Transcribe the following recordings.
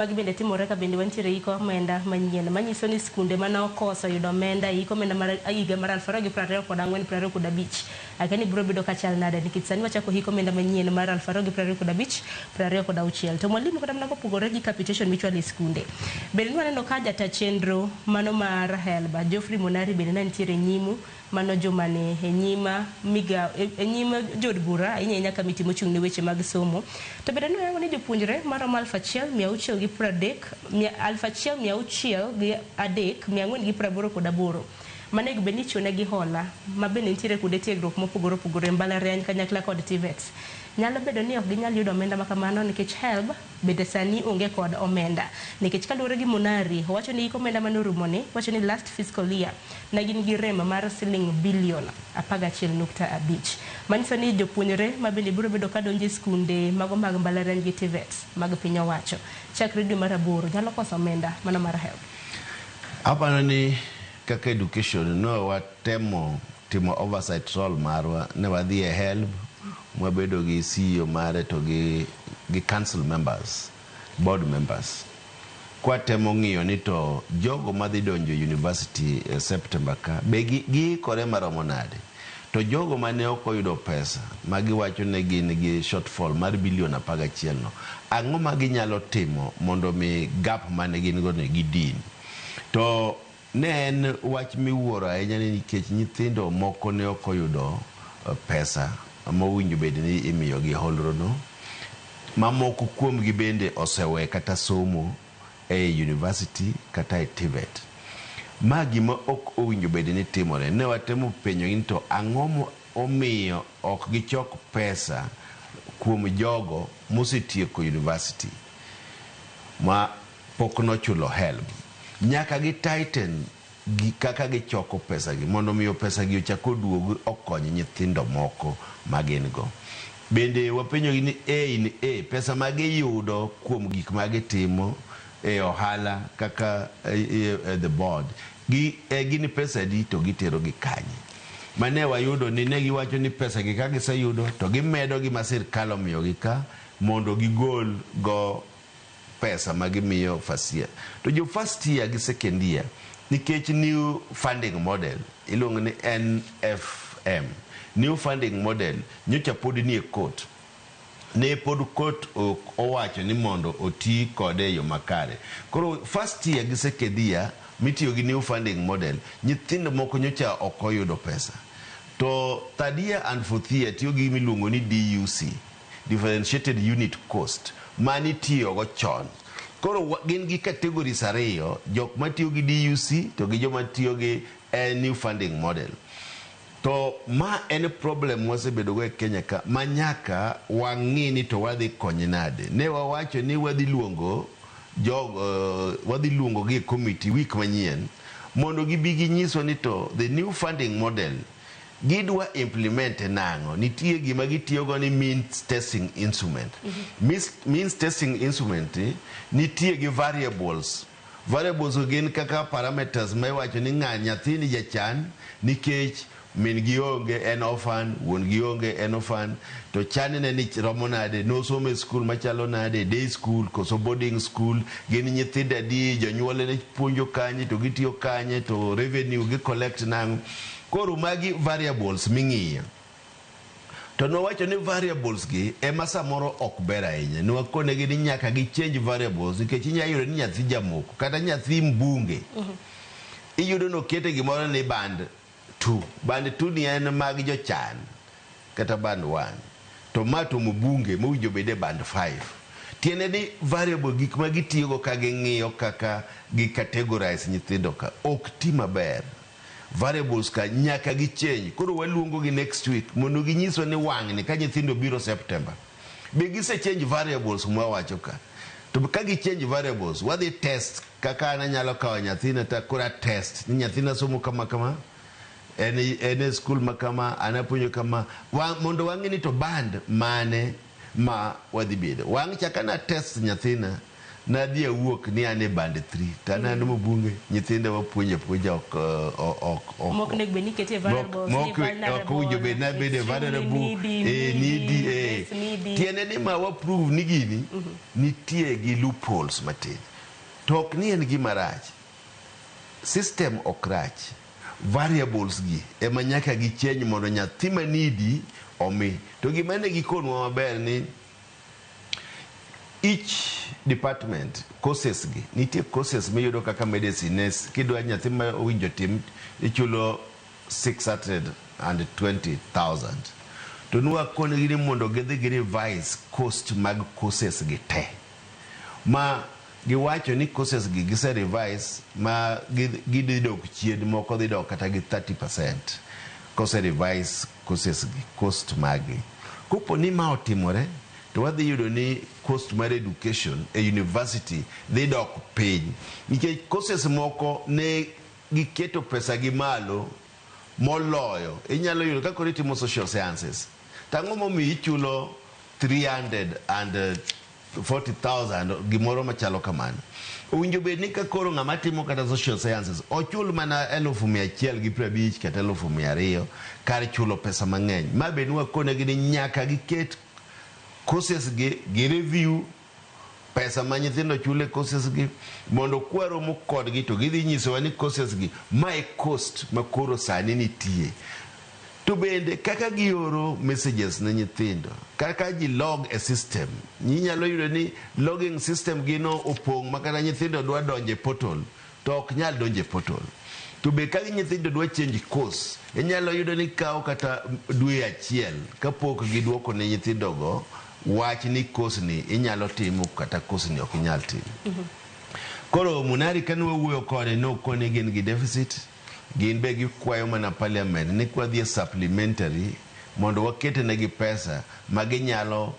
Magi bende timore ka bende wantiere iko omenda manyien manyiso ni skunde mane okoso yudo omenda e iko omenda mar higa mar aluf ariyo gi piero ariyo kod ang'wen, piero ariyo kod abich. Akia ni biro bedo kachal nade nikech sani wachako hik omenda manyien mar aluf ariyo gi piero ariyo kod abich, piero ariyo kod auchiel. To mwalimu kata mana kopogore gi capitation michwalo e skunde, bende ne waneno ka jata chenro mano mar HELB, Geoffrey Monari bende ne nitiere e nyimu, Mano juma ni e nyim migao e nyim jood bura ahinya ahinya kamiti mochung' ne weche mag somo to bende ne oyango ni jopuonjre maromo aluf achiel mia auchiel gi piero adek aluf achiel mia auchiel gi adek mia ang'wen gi piero aboro kod aboro manego bed ni ichiwo negi hola ma bende nitiere kuonde tiegruok mopogore opogore e mbalariany kanyakla kod TVETs nyalo bedo ni ok ginyal yudo omenda makamano nikech HELB Bende sani onge kod omenda nikech kaluore gi Munari owacho ni hik omenda mane orumo ni wacho ni last fiscal year ne gin gi rem mar siling billion apar gachiel nukta abich manyiso ni jopuonjre ma bende biro bedo ka donjo e skunde mago mag mbalariany gi Tvets mag piny owacho chakre dwe mar aboro nyalo koso omenda mano mar helb. Aparo ni kaka education ne watemo. timo oversight role marwa ne wadhi e helb mwabedo gi CEO mare to gi gi council members, board members kwatemo ng'iyo ni to jogo madhi donjo e university e September ka be gi giikore maromo nade to jogo mane ok oyudo pesa ma giwacho ni gin gi shortfall mar billion apar gachiel no ang'o ma ginyalo timo mondo mi gap mane gin go ni gidin to Ne en wach miwuoro ahinya ni nikech nyithindo moko ne ok oyudo pesa mowinjo bed ni imiyogi e hondrono, ma moko kuomgi bende osewe kata somo e i yunivasiti kata e TVET. Ma gima ok owinjo bed ni timore. Ne watemo penjogi ni to ang'o momiyo ok gichok pesa kuom jogo mosetieko yunivasiti ma Pok nochulo helb. Nyaka gi tighten gi kaka gichoko pesagi mondo miyo pesagi ochak oduog okony nyithindo moko ma gin go. Bende wapenjogi ni A in A, pesa ma giyudo kuom gik ma gitimo e ohala kaka the board gi e gin pesa adi to gitero gi kanye. Ma ne wayudo ni ne giwacho ni pesagi ka giseyudo to gimedo gi ma sirkal omiyogi ka mondo gigol go pesa ma gimiyo first year to jo first year gi second year nikech new funding model iluongo ni NFM new funding model nyocha pod nie court ne pod court ok owacho ni mondo oti kode e yo makare koro first year gi second year mitiyo gi new funding model nyithindo moko nyocha ok oyudo pesa to third year and fourth year tiyo gi gima iluongo ni DUC differentiated unit cost, mane itiyogo chon. Koro gin gi categories ariyo, jok matiyo gi DUC to gi joma tiyo gi new funding model. To ma en problem mwasebedogo e Kenya ka manyaka wang'i ni to wadhi konye nade. Ne wawacho ni wadhi luongo jogo, wadhi luongogi e committee week manyien mondo gibi ginyiswa ni to the new funding model, Gidwa implement e nang'o? Nitie gima gitiyogo ni means testing instrument. Means, means testing instrument ni, nitie gi variables. Variables go gin kaka parameters ma iwacho ni ng'a nyathini jachan nikech min gi onge en orphan, wuon gi onge en orphan, to channe ni romo nade, nosomo e skul machalo nade, day school koso boarding school, gin nyithindo adi, jonyuolne puonjo kanye to gitiyo kanye to revenue gi collect nang'o. Koro magi variables ming'iyo. To nwawacho ni variables gi ema samoro ok ber ahinya. Nwakonegi ni nyaka gi change variables nikech inya yudo ni nyathi jamoko kata nyathi mbunge. Iyudo ni okete gimoro ni band two. Band two ni en mag jochan kata band one. To ma to mbunge mowinjo obed e band five. Tiende ni variable gik ma gitiyogo ka ging'iyo kaka gi categorize nyithindo ka ok ti maber. variables ka nyaka gi change koro waluongo gi next week mondo ginyiswa ni wang'ni ka nyithindo biro September be gise change variables mwawacho ka to ka gi change variables wadhi test kaka an anyalo kawo nyathina ta kora test ni nyathina somo kama kama en en e skul ma kama an apuonjo kama wa, mondo wang'e ni to band mane ma wadhi bedo wang' chaka na test nyathina Nadhi awuok ni an e band three to an an Mubunge, nyithinda wapuonjo apuonja ok ok ok ok Mok nego bed ni ikete Mok- vulnerable, ni mok- vulnerable, ok owinjo bed ni abedo extremely vulnerable, needy, eh, needy, needy, eh. yes, needy. tiende ni ma waprove ni gini nitie gi loopholes matin to ok ni en gima rach system ok rach variables gi ema nyaka gi change mondo nyathi ma needy omi to gima ne gikonwa maber ni Each department courses gi nitie courses miyudo kaka medicine nurse kidwa nyathi ma owinjo tim ichulo 620,000 to nwakonigi ni mondo gidhi gi revise cost mag courses gi te ma giwacho ni courses gi gise revise ma gidhi dok chien moko dhi dok kata gi 30% kose revise courses gi, cost magi. Kopo ni ma otimore to wadhi yudo ni cost mar education e university dhi dok piny nikech courses moko ne giketo pesa gi malo moloyo. Inyalo yudo ka koro itimo social sciences to ang'o momiyo ichulo 300 and 40,000 gimoro machalo kamano. Owinjo bed ni ka koro ng'ama timo kata social sciences ochul mana elufu mia achiel gi piero abich kata elufu mia ariyo kar chulo pesa mang'eny. Ma be nwakonegi ni nyaka giket courses gi, gi review pesa ma nyithindo chulo e courses gi mondo kwaromo kodgi to gidhi nyisowa ni courses gi ma e cost ma koro sani nitie. To bende kaka gioro messages ne nyithindo, kaka ji log e system, inyalo yudo ni logging system gi no opong' ma kata nyithindo dwa donjo e portal to ok nyal donjo e portal. To be ka nyithindo dwa change course, inyalo yudo ni kawo kata dwe achiel ka pok giduoko ne nyithindo go wach ni course ni inyalo timo kata course ni ok inyal timo. Koro Munari kane wawuoyo kode ne okone gin gi deficit. Gin be gikwayo mana parliament ni kwadhi e supplementary mondo wakete negi pesa ma ginyalo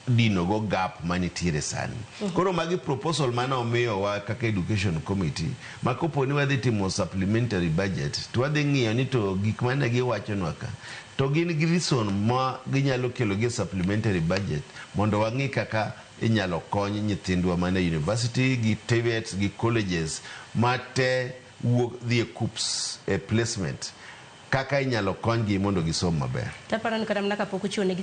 dino go gap manitiere sani. Koro magi proposal mane omiyowa kaka education committee ma kopo ni wadhi timo supplementary budget to wadhi ng'iyo ni to gik mane giwachonwa ka to gin gi reason ma ginyalo kelo gi e supplementary budget mondo wang'i kaka inyalo kony nyithindwa man e university gi tvets gi colleges ma te wuok dhi e KUPPS e placement kaka inyalo konygi mondo gisom maber. Taparon kata mana kapok ochiwo negi